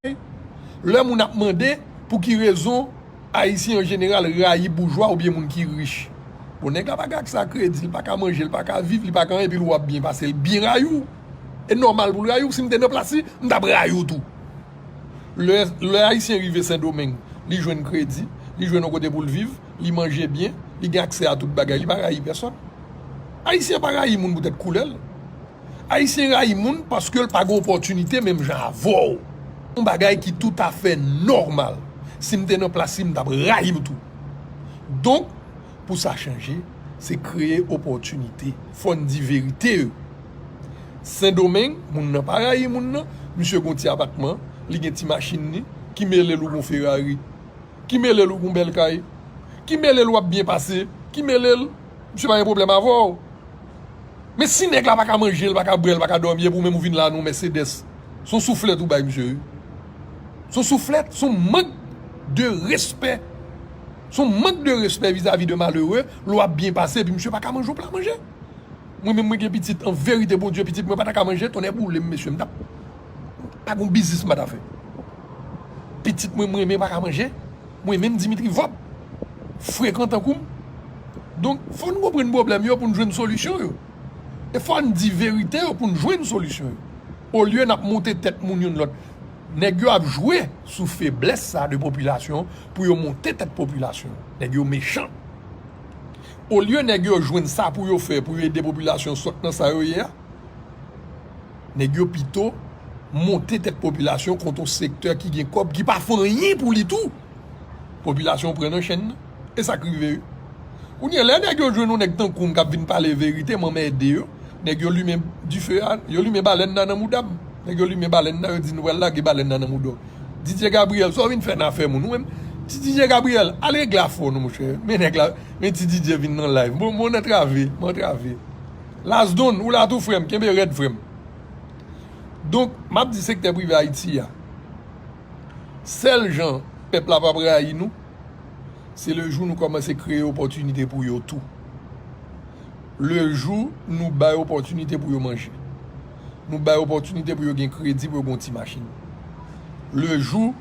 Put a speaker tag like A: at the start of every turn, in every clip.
A: bagay, lè moun ap mande pou ki rezon Ayisyen an jeneral rayi boujwa oubyen moun ki rich. Bon, nèg la pa gen aksè a kredi, li pa ka manje, li pa ka viv, li pa ka anyen epi l wè w ap byen pase l byen rayi w. E nòmal pou l rayi w, si m te nan plas li, m t ap rayi w tou. Lè, lè Ayisyen rive Sendomeng, li jwenn kredi, li jwenn yon kote pou l viv, li manje byen, li gen aksè a tout bagay, li pa rayi pèsòn. Ayisyen pa rayi moun poutèt koulè l. Ayisyen rayi moun paske l pa gen opòtinite menm jan avè w. Yon bagay ki toutafè nòmal. Si m te nan plas li, m t ap rayi l tou. Donk, pou sa chanje, se kreye opòtinite. Fò n di verite yo. Sendomeng, moun nan pa rayi moun nan. Misye gen yon ti apatman, li gen ti machin li. Ki mele l ou gen yon Ferrari? Ki mele l ou gen yon bèl kay? Ki mele l w ap byen pase? Ki mele l? Misye pa gen pwoblèm avè w. Men si nèg la pa ka manje, li pa ka bwè, li pa ka dòmi epi ou menm ou vin la nan yon Mercedes, se yon souflèt ou bay misye wi. Se yon souflèt, se yon mank de respè. Se yon mank de respè vizavi de malere lè w ap byen pase epi misye pa ka manje yon pla manje. Mwen menm mwen gen pitit, an verite Bondye pitit mwen pa ta ka manje, tonnè boule m mesye m ta pa gen yon biznis m pa ta fè. Pitit mwen m renmen pa ka manje. Mwen menm Dimitri Vorbe frekan tankou m. Donk fò n konprann pwoblèm yo pou n jwenn solisyon yo. E fò n di verite yo pou n jwenn solisyon yo. Olye n ap monte tèt moun youn lòt. Nèg yo ap jwe sou feblès sa de popilasyon an pou yo monte tèt popilasyon an. Nèg yo mechan. Olye nèg yo jwenn sa pou yo fè pou yo ede popilasyon sot nan sa yo ye a. Nèg yo pito monte tèt popilasyon kont yon sektè ki gen kòb ki pa fè anyen pou li tou. Popilasyon pran nan chenn nan. E sa k rive yo? Kounye a, lè nèg yo jwenn yon nèg tankou m k ap vin pale verite, m anmède yo. Nèg yo limen dife a, yo limen balèn nan nan mouda m. Nèg yo limen balèn nan, yo di nou pral lage balèn nan nan mouda w. Didye Gabriyèl, sa w vin fè nan afè moun ou menm? Ti Didye Gabriyèl, al regle afè w non monchè. Men nèg la, men ti Didye vin nan live. Bon, m antrave, m antrave. Las Don ou la tou frèm kenbe rèd frèm donk map di sektè prive ayiti ya sèl jan pèp la pap rayi nou se le jou nou kòmanse kreye opòtinite pou yo tou le jou nou bay opòtinite pou yo manje nou bay opòtinite pou yo gen kredi pou yo gen yon ti machin le jou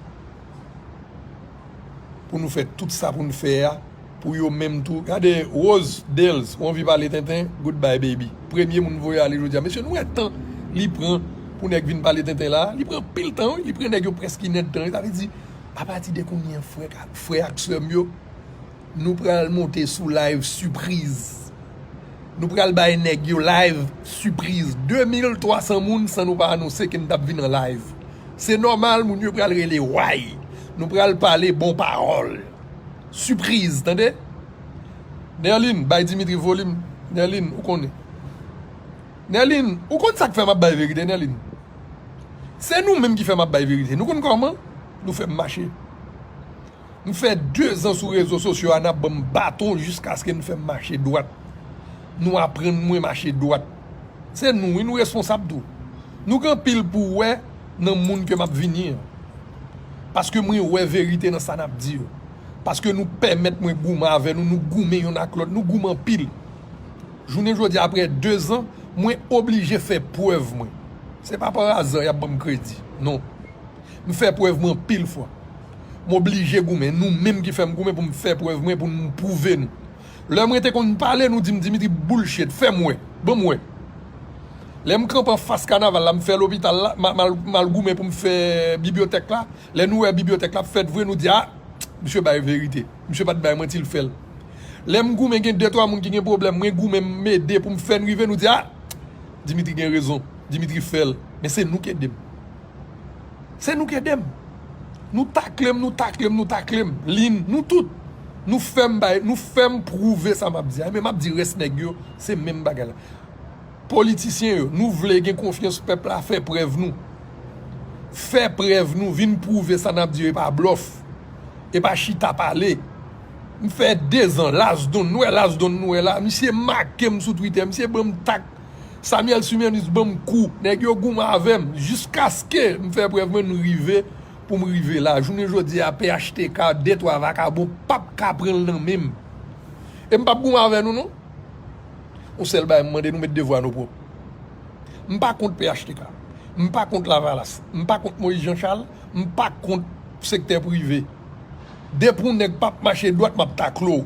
A: pou nou fè tout sa poun fè a pou yo menm tou gade Rose Dales ou anvi pale tenten good bye baby premye moun voye ale jodia mesye nou wè tan li pran pou nèg vin pale tenten la li pran anpil tan wi li pran nèg yo prèske inèdtan sa vle di apati de kounye an frè ak sèm yo Nou pral monte sou live sipriz Nou pral bay nèg yo live sipriz 2300 moun san nou pa anonse ke nou tap vin an live Se nòmal moun yo pral rele way Nou pral pale bon pawòl Sipriz tande Nerline bay Dimitri volim Nerline ou konnen Nerline ou konn sak fè map bay verite Nerline Se nou menm ki fè map bay verite Nou konn kòman nou fèm mache. M fè 2 zan sou rezo sosyo a nap banm baton jiskaske nou fèm mache dwat nou aprann mwen mache dwat se nou wi nou responsab tou nou gen anpil pou wè nan moun ke map vini an paske mwen wè verite nan sa nap di yo paske nou pèmèt mwen goumen avè nou nou goumen yonn ak lòt nou goumen anpil jounen jodi a aprè 2 zan mwen oblije fè prèv mwen se pa par aza yap banm kredi non. M fè prèv mwen anpil fwa. M oblije goumen. Nou menm ki fè m goumen pou m fè prèv mwen, pou m pwouve nou. Lè mwen te konn pale, nou di m Dimitri bullshit, fè m wè, ban m wè. Lè m kanpe anfas kanaval la, m fè lopital la, m al goumen pou m fè bibyotèk la. Lè nou wè bibyotèk la ap fèt vre, nou di a, misye bay verite. Misye pa t bay manti, l fè l. Lè m goumen gen de twa moun ki gen pwoblèm, mwen goumen m ede pou m fè n rive, nou di a, Dimitri gen rezon, Dimitri fè l. Men se nou ki ede m. Se nou k ede m. Nou takle m, nou takle m, nou takle m. Lynn, nou tout. Nou fè m bay, nou fè m pwouve sa m ap di a. Enben, m ap di rès nèg yo, se menm bagay la. Politisyen yo, nou vle gen konfyans pèp la, fè prèv nou. Fè prèv nou, vin pwouve sa n ap di yo e pa blòf. E pa chita pale. M fè dezan, Lazdon, nou wè Lazdon nou wè la, misye make m sou Twitter, misye ban m tak. Samuel Sumyanus banm kou nèg yo goumen avèm jiskaske m fè prèv mwen m rive poum rive la jounen jodi a phtk de twa vakabon pap ka pranl nan menm e m pap goumen avè nou non yon sèl bagay m mande nou met devwa nou pwòp m pa kont phtk m pa kont lavalas m pa kont Moïse Jean Charles m pa kont sektè prive depi yon nèg pap mache dwat map takle w.